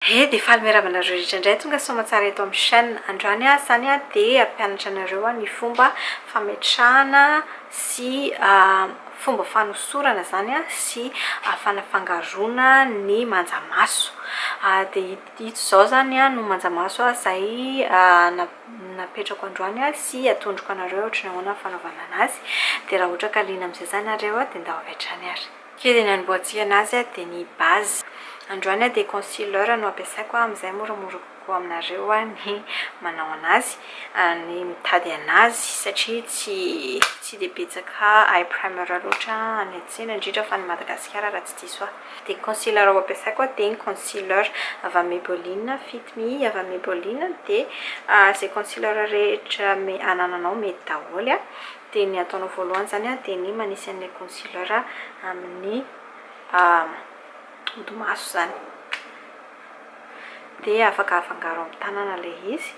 He de faly miarahaba anareo rehetra indray tonga soamantsara eto amin'ny chaîne androany aho izany a de hampianatra anareo aho ny fomba fametrahana sy fomba fanosorana izany a sy fanafangaroana ny manja maso de ito izao izany no manja maso a izay na- napetrako androany a sy atondriko anareo hoe ohatran'ny ahoana ny fanaovana anazy de raha ohatra ka liana amin'izay izany nareo a de ndao avy hatrany ary Kely ny anombohantsihana azy dia ny base. Androany dia concealer no ampiasaiko amin'izay moramora kokoa aminareo ny manao an'azy, ny mitady an'azy satria tsy tsy dia betsaka eye primer loatra any an-tsena indrindra fa any Madagasikara raha tsy diso ahy. Dia ny concealer ho ampiasaiko dia ny concealer avy amin'ny Maybelline Fit Me avy amin'ny Maybelline dia izay concealer rehetra anananao mety daholo. dia ny ataonao voalohany izany dia ny manisy an'ilay concealer amin'ny odi-maso izany. Dia afaka afangaro amin'ny tanana ilay izy.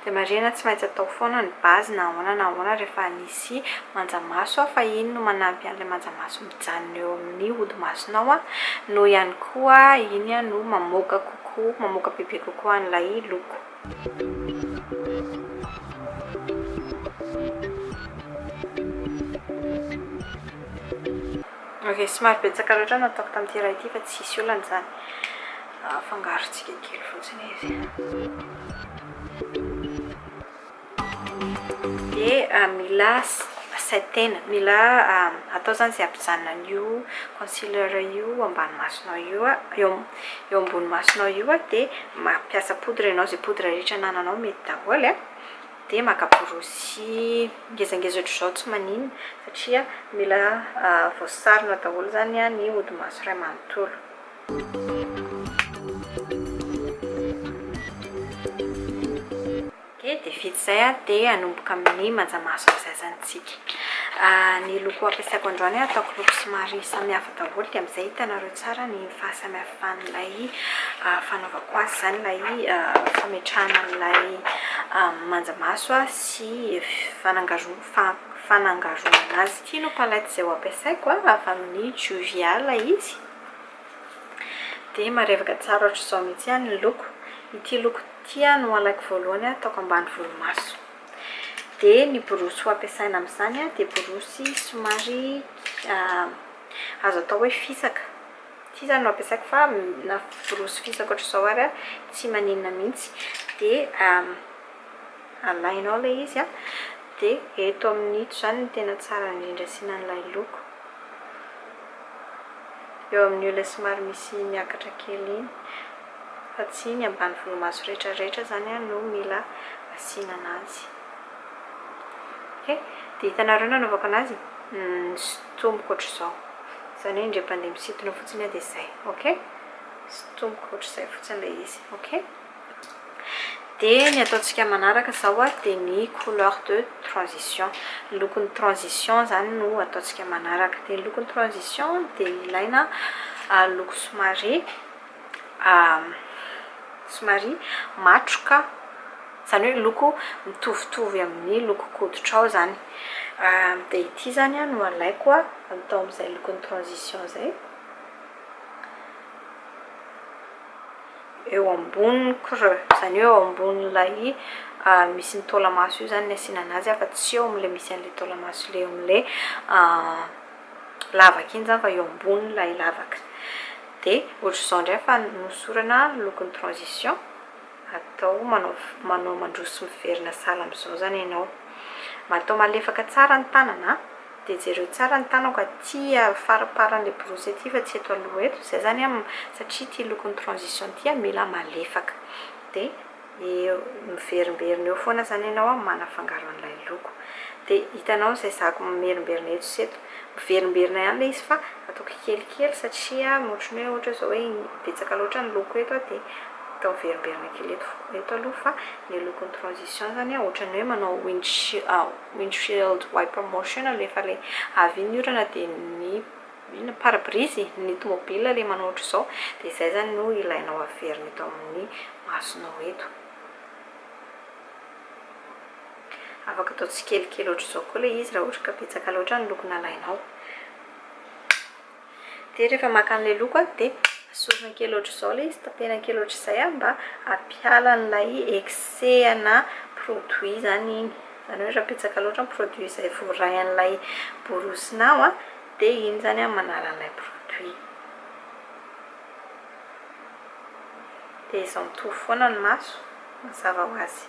Dia marihina tsy maintsy atao foana ny base na ahoana na ahoana rehefa nisy manjamaso aho fa iny no manampy an'ilay manjamaso mijanona eo amin'ny hodimasonao noho ihany koa iny no mamoaka kokoa, mamoaka bebe kokoa an'ilay loko. Ok, somary betsaka loatra no ataoko tamin'ity iray ity fa tsisy olana izany. Afangarontsika kely fotsiny izy. Dia mila saintena, mila atao izany izay hampijanona an'io concealer io eo ambany masonao io, eo ambony masonao io, dia mampiasa poudre ianao, izay poudre rehetra anananao mety daholo e. dia maka borosy ngezangeza ohatr'izao tsy maninona satria mila voasarona daholo izany ny hodi-maso iray manontolo. Okay, dia vita izay dia hanomboka amin'ny manja maso amin'ny zazantsika. Ny loko ampiasaiko androany ataoko loko somary samihafa. daholo dia amin'izay hitanareo tsara ny fahasamihafan'ilay fanaovako azy izany, ilay fametrahana an'ilay manjamaso sy fanangaroana fanangaroana azy. Ity no palette izay ho ampiasaiko, avy amin'ny Juvia ilay izy. Dia marevaka tsara ohatr'izao mihitsy ny loko. Ity loko ity no halaiko voalohany hataoko ambany volomaso. Dia ny borosy ho ampiasaina amin'izany dia borosy somary azo atao hoe fisaka. Ity izany no ampiasaiko fa na borosy fisaka ohatr'izao ary tsy maninona mihitsy. Dia alaina ao ilay izy an, dia eto amin'ito izany no tena tsara indrindra asiana an'ilay loko. Eo amin'io ilay somary misy miakatra kely iny. fa tsy ny ambany volomaso rehetra rehetra izany an no mila asiana anazy ok dia hitanareo nanaovako anazy sintomiko ohatr'izao izany hoe indray mpandeha misintona fotsiny aho dia izay ok sintomiko ohatr'izay fotsiny ilay izy ok dia ny ataontsika manaraka izao an dia ny couleur de transition ny lokon'ny transition izany no ataontsika manaraka dia ny lokon'ny transition dia ilaina loko somary somary matroka, izany hoe loko mitovitovy amin'ny lokon-koditrao izany. Dia ity izany no alaiko atao amin'izay lokon'ny transition izay. Eo ambonin'ny creux, izany hoe eo ambonin'ilay misy ny taolamaso io izany no asiana anazy fa tsy eo amin'ilay misy an'ilay taolamaso ilay eo amin'ilay lavaka iny izany fa eo ambonin'ilay lavaka. Dia ohatr'izao indray fa nohosorana lokon'ny transition, atao manao manao mandroso miverina sahala amin'izao izany ianao. Mba atao malefaka tsara ny tanana an! Dia jereo tsara ny tanako aty faramparan'ilay borosy aty fa tsy eto aloha eto, izay izany an, satria ity lokon'ny transition ity an, mila malefaka. Dia. Eo, miverimberina eo foana izany ianao an, manafangaro an'ilay loko. Dia hitanao izay zako mimerimberina eto sy eto. Miverimberina ihany ilay izy fa ataoko kelikely satria ohatran'ny hoe ohatra izao hoe betsaka loatra ny loko eto an, dia atao miverimberina kely eto fo- eto aloha fa ilay lokon'ny transition izany an, ohatran'ny hoe manao windshield wiper motion alefa ilay avy iny ny orana dia ny Ny pare-brise ny tomobile le manao ohatr'izao dia izay izany no ilainao averina eto amin'ny masonao eto. Afaka atao tsikelikely ohatr'izao koa ilay izy raha ohatra ka betsaka loatra ny loko nalainao. Dia rehefa maka an'ilay loko dia esorina kely ohatr'izao ilay izy, tapena kely ohatr'izay mba hampiala an'ilay excès ana produit izany iny. Izany hoe raha betsaka loatra ny produit izay voarain'ilay borosinao. De ino zany an manala an'ilay produit. De izao mitovy foana ny maso mazava ho azy.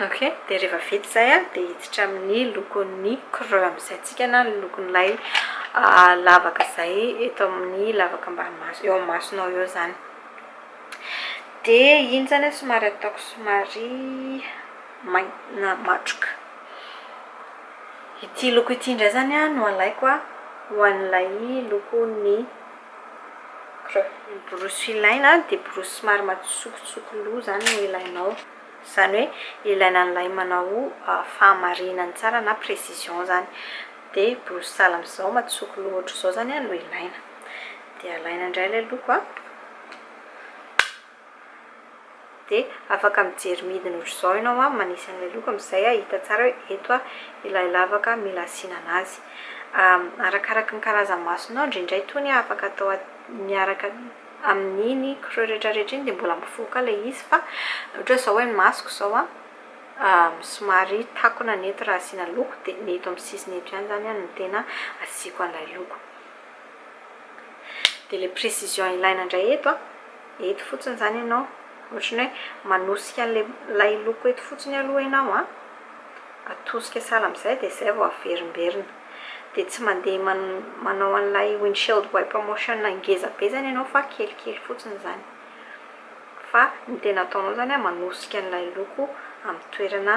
Ok de rehefa vita izay an de hiditra amin'ny lokon'ny creux amin'izay tsika na ny lokon'ilay lavaka izay eto amin'ny lavaka ambany maso eo amin'ny masonao eo zany. Dia iny izany an, somary ataoko somary mainty na matroka. Ity loko ity indray izany an no alaiko an, ho an'ilay lokon'ny creux. Ny borosy ilaina dia borosy somary matsikotsiko loha izany no ilainao. Izany hoe ilaina an'ilay manao fahamarinany tsara na précision izany. Dia borosy sahala amin'izao matsiko loha ohatr'izao izany an no ilaina. dia alaina indray ilay loko a dia afaka mijery midina ohatr'izao ianao a manisy an'ilay loko amin'izay hahita tsara hoe eto a ilay lavaka mila asiana an'azy arakaraka ny karazan'ny masonao indraindray tony afaka atao miaraka amin'iny creux rehetrarehetra iny dia mbola mivoaka ilay izy fa ohatra izao hoe ny masoko izao a somary takona ny eto raha asiana loko dia ny eto amin'ny sisiny eto ihany izany no tena asiako an'ilay loko Dia ilay précision ilaina indray eto an, eto fotsiny izany ianao, ohatry ny hoe manosika an'ilay loko eto fotsiny aloha ianao an, atosika sahala amin'izay dia izay vao averimberina. Dia tsy mandeha manao an'ilay windshield wiper motion ngeza be izany ianao fa kelikely fotsiny izany. Fa ny tena ataonao izany an, manosika an'ilay loko amin'ny toerana.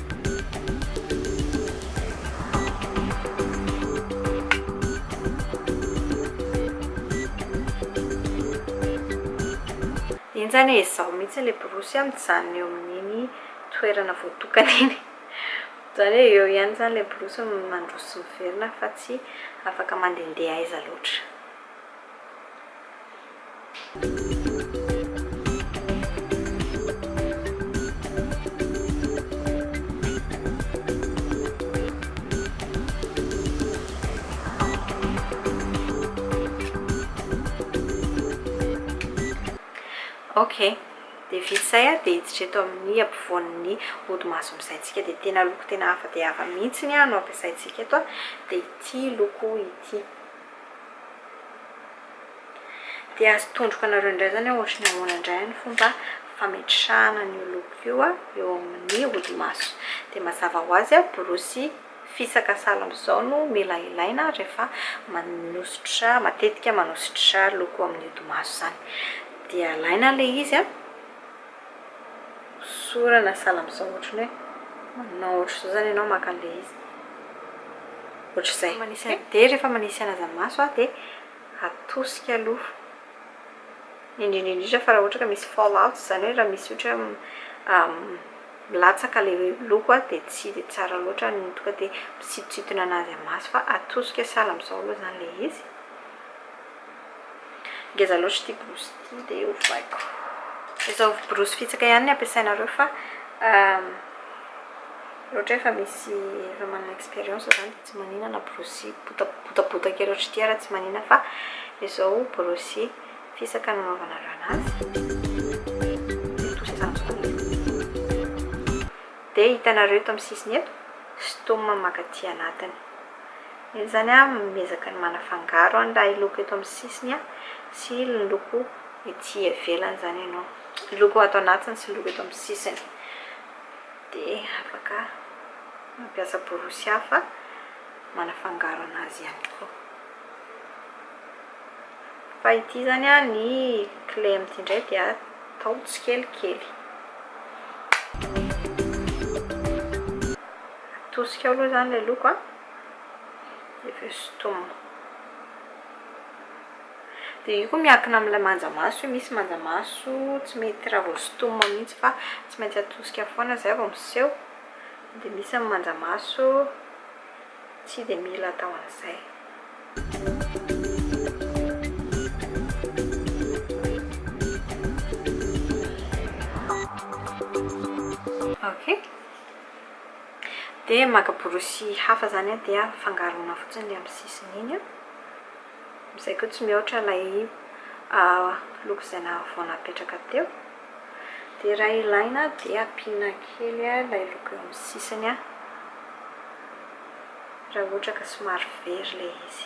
Enjana e, izao mihitsy ilay borosy a, mijanona eo amin'iny toerana voatokana iny. Izany hoe eo ihany izany ilay borosy mandroso sy miverina fa tsy afaka mandehandeha aiza loatra. Ok, dia vita izay a, dia hiditra eto amin'ny ampovoan'ny ody maso misaintsika, dia tena loko tena hafa dia hafa mihitsy no ampiasaintsika eto a, dia ity loko ity. Dia azo tondroka anareo indray izany hoe hoatran'ny ahoana indray ny fomba fametrahana an'io loko io eo amin'ny hodimaso. Dia mazava ho azy, borosy fisaka sahala amin'izao no mila ilaina rehefa manosotra, matetika manosotra loko amin'ny hodimaso izany. Dia alaina ilay izy an. Sora na sahala amin'izao ohatran'ny hoe manao ohatr'izao zany ianao maka an'ilay izy. Ohatr'izay. Manisy an, dia rehefa manisy anaza-maso aho dia atosika aloha. Indrindra indrindra fa raha ohatra ka misy fall out, izany hoe raha misy ohatra hoe milatsaka ilay loko an, dia tsy dia tsara loatra ny tonga dia misintosintona anazy amin'ny maso fa atosika sahala amin'izao aloha izany ilay izy. Ngeza loatra ity borosy ity dia hovaiko. Izao borosy fitsaka ihany no ampiasainareo fa ohatra hoe efa misy efa manana expérience izany dia tsy maninona borosy botabota kely ohatra ity ary tsy maninona fa izao borosy fisaka no anaovanareo anazy. Dia hitanareo eto amin'ny sisiny eto, sitoma maka aty anatiny. Enn zany a miezaka ny manafangaro an lay loko eto amin'ny sisiny a sy ny loko ety ivelany zany ianao, ny loko ato anatiny sy ny loko eto amin'ny sisiny dia afaka mampiasa borosy hafa manafangaro anazy ihany koa. Fa ity zany a ny clé amin'ity indray dia atao tsikelikely. Atosika ao aloha izany ilay loko an. Dia avy eo sintomina. Dia io koa miankina amin'ilay manja maso io. Misy manja maso tsy mety raha vao sintomina mihitsy fa tsy maintsy atosika foana izay vao miseho. Dia misy ny manja maso tsy dia mila atao an'izay. Ok. Dia maka borosy hafa izany aho dia fangaroina fotsiny ilay amin'ny sisiny iny. Amin'izay koa tsy mihoatra ilay loko izay vao napetraka teo. Dia raha ilaina dia ampiana kely ilay loko eo amin'ny sisiny raha ohatra ka somary very ilay izy.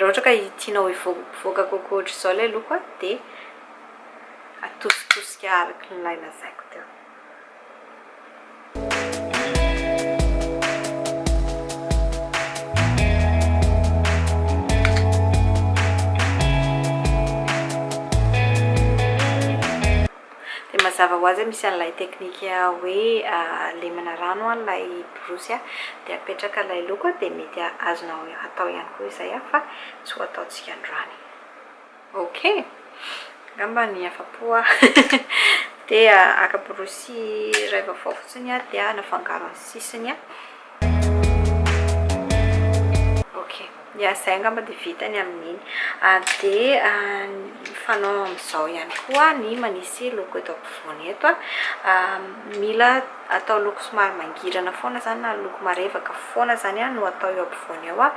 Raha ohatra ka tianao hivoaka kokoa ohatr'izao ilay loko dia atositosika araka ilay lazaiko teo. dia mazava ho azy misy an'ilay teknika hoe lemana rano ilay borosy dia apetraka ilay loko dia mety azonao atao ihany koa izay fa tsy ho ataontsika androany Ok! Angamba ny afa-po aho dia haka borosy iray vaovao fotsiny aho dia hanafangaro ny sisiny an! Ok! Ya! Izay angamba dia vita ny amin'iny. Dia ny fanao amin'izao ihany koa ny manisy loko eto ampovoany eto an! Mila atao loko somary mangirana foana izany na loko marevaka foana izany no atao eo ampovoany eo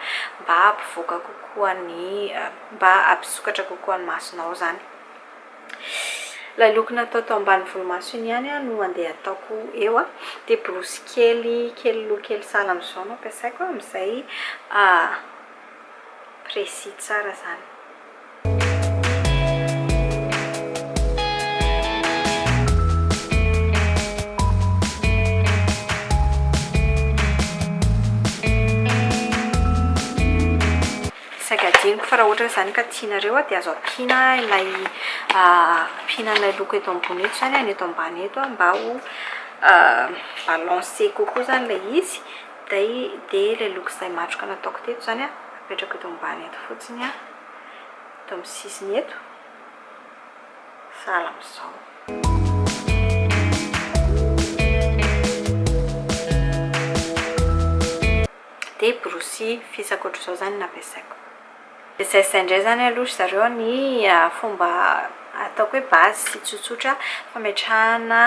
mba hampivoaka kokoa ny mba hampisokatra kokoa ny masonao izany. Ilay look natao tao ambany volomaso iny ihany no handeha hataoko eo an, dia borosy kely kely loha kely sahala amin'izao no ampiasaiko amin'izay précis tsara izany. Saika adinoko fa raha ohatra ka izany ka tianareo dia azo ampiana ilay ampiana ilay loko eto ambony eto izany ny eto ambany eto mba ho balance kokoa izany ilay izy dia ilay loko izay matroka nataoko teto izany apetrako eto ambany eto fotsiny eto amin'ny sisiny eto sahala amin'izao Dia borosy fils ankoatr'izao izany no nampiasaiko. Dia izay izay indray izany aloha ry zareo ny fomba ataoko hoe base sy tsotsotra fametrahana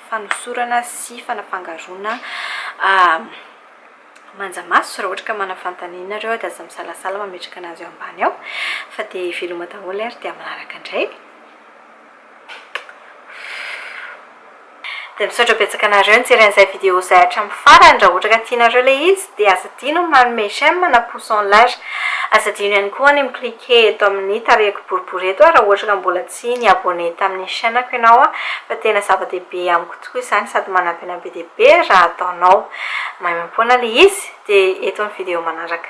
fanosorana sy fanafangaroana manja maso. Raha ohatra ka manana fanontaniana ianareo dia aza misalasala mametraka an'azy eo ambany eo. Fa dia veloma daholo ary dia manaraka indray. Dia misaotra betsaka anareo nijery an'izay vidéo izay hatramin'ny farany, raha ohatra ka tianareo ilay izy dia aza adino ny manome j'aime na pouce en l'air. Aza adino ihany koa ny mi-cliquer eto amin'ny tarehiko boribory eto raha ohatra ka mbola tsy ni-abonné tamin'ny chaîne-ko ianao fa tena zava-dehibe amiko tokoa izany sady manampy an'ahy be dia be raha ataonao. Maimaimpoana ilay izy dia eto ny vidéo manaraka.